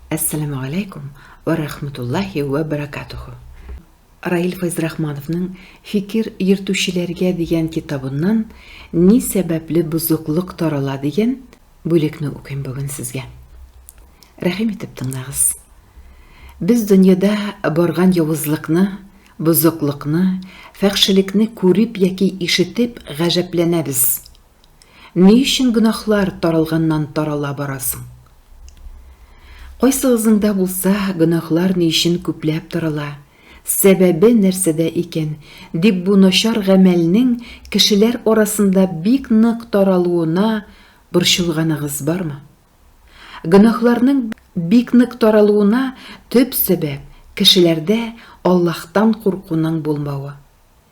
Әссәламегаләйкүм вә рәхмәтуллаһи вә бәрәкәтүһү. Раил Файзрахмановның Фикер йөртүчеләргә дигән китабыннан Ни сәбәпле бозыклык тарала дигән бүлекне укыйм бүген сезгә. Рәхим итеп тыңлагыз. Без дөньяда барган явызлыкны, бозыклыкны, фәхшелекне күреп яки ишетеп гаҗәпләнәбез. Ни өчен гөнаһлар таралганнан-тарала бара соң? Кайсыгызның да булса, гөнаһлар ни өчен күпләп тарала, сәбәбе нәрсәдә икән, дип бу начар гамәлнең кешеләр арасында бик нык таралуына борчылганыгыз бармы? Гөнаһларның бик нык таралуына төп сәбәп, кешеләрдә Аллаһтан куркуның булмавы.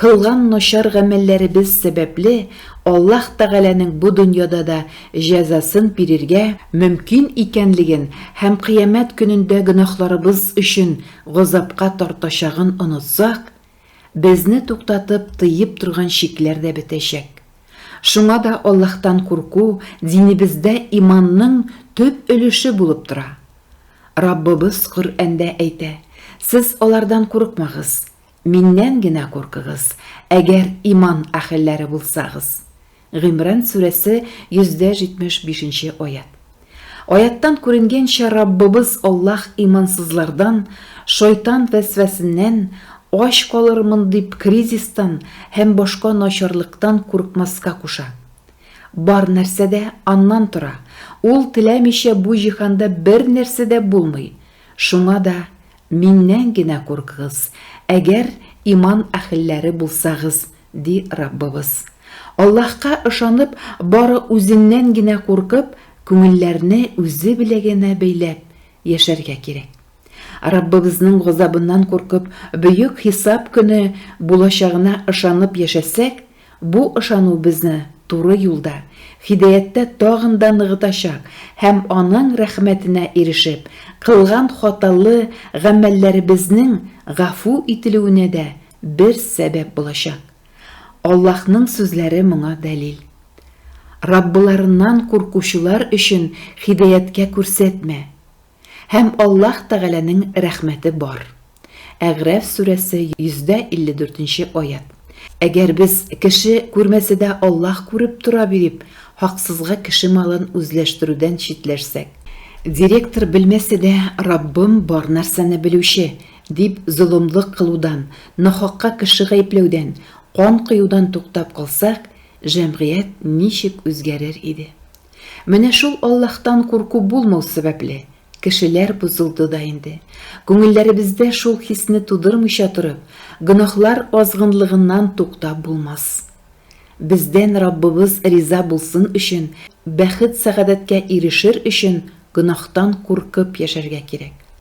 Кылган начар гамәлләребез сәбәпле Аллаһ Тәгаләнең бу дөньяда да җәзасын бирергә мөмкин икәнлеген һәм Кыямәт көнендә гөнаһларыбыз өчен газапка тартачагын онытсак, безне туктатып, тыеп торган чикләр дә бетәчәк. Шуңа да Аллаһтан курку динебездә иманның төп өлеше булып тора. Раббыбыз Коръәндә әйтә, Сез алардан курыкмагыз. Миннән генә куркыгыз, әгәр иман әһелләре булсагыз. Гимран сүрәсе 175 нче аять. Аяттан күренгәнчә, Раббыбыз Аллаһ имансызлардан, шайтан вәсвәсеннән, ач калырмын дип кризистан һәм башка начарлыктан куркмаска куша. Бар нәрсә дә Аннан тора, Ул теләмичә бу җиһанда бер нәрсә дә булмый, шуңа да Миннән генә куркыгыз, әгәр иман әхелләре булсагыз, ди Раббыбыз. Аллаһка ышанып, бары Үзеннән генә куркып, күңелләрне Үзе беләгенә бәйләп яшәргә кирәк. Раббыбызның газабыннан куркып, Бөек Хисап көне булачагына ышанып яшәсәк, Бу ышану безне туры юлда, һидаяттә тагын да ныгытачак һәм Аның рәхмәтенә ирешеп, кылган хаталы гамәлләребезнең гафу ителүенә дә бер сәбәп булачак. Аллаһның сүзләре моңа дәлил. Раббыларыннан куркучылар өчен һидаяткә күрсәтмә. Һәм Аллаһ Тәгаләнең рәхмәте бар. Әгъраф сүрәсе 154 нче аять. Әгәр без, кеше күрмәсә дә Аллаһ күреп тора бирип, хаксызга кеше малын үзләштерүдән читләшсәк. Директор белмәсә дә, Раббым бар нәрсәне белүче, дип золымлык кылудан, нахакка кеше гаепләүдән, кан коюдан туктап калсак, җәмгыять ничек үзгәрер иде? Менә шул Аллаһтан курку булмау сәбәпле, кешеләр бозылды да инде. Күңелләребездә шул хисне тудырмыйча торып, гөнаһлар азгынлыгыннан туктап булмас. Бездән Раббыбыз риза булсын өчен, бәхет-сәгадәткә ирешер өчен гөнаһтан куркып яшәргә кирәк.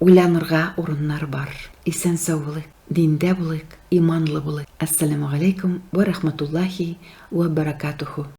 Уйланырга урыннар бар. Исән-сау булыйк, диндә булыйк, иманлы булыйк. Әссәләмүгаләйкүм вә рахматуллаһи вә баракатуху.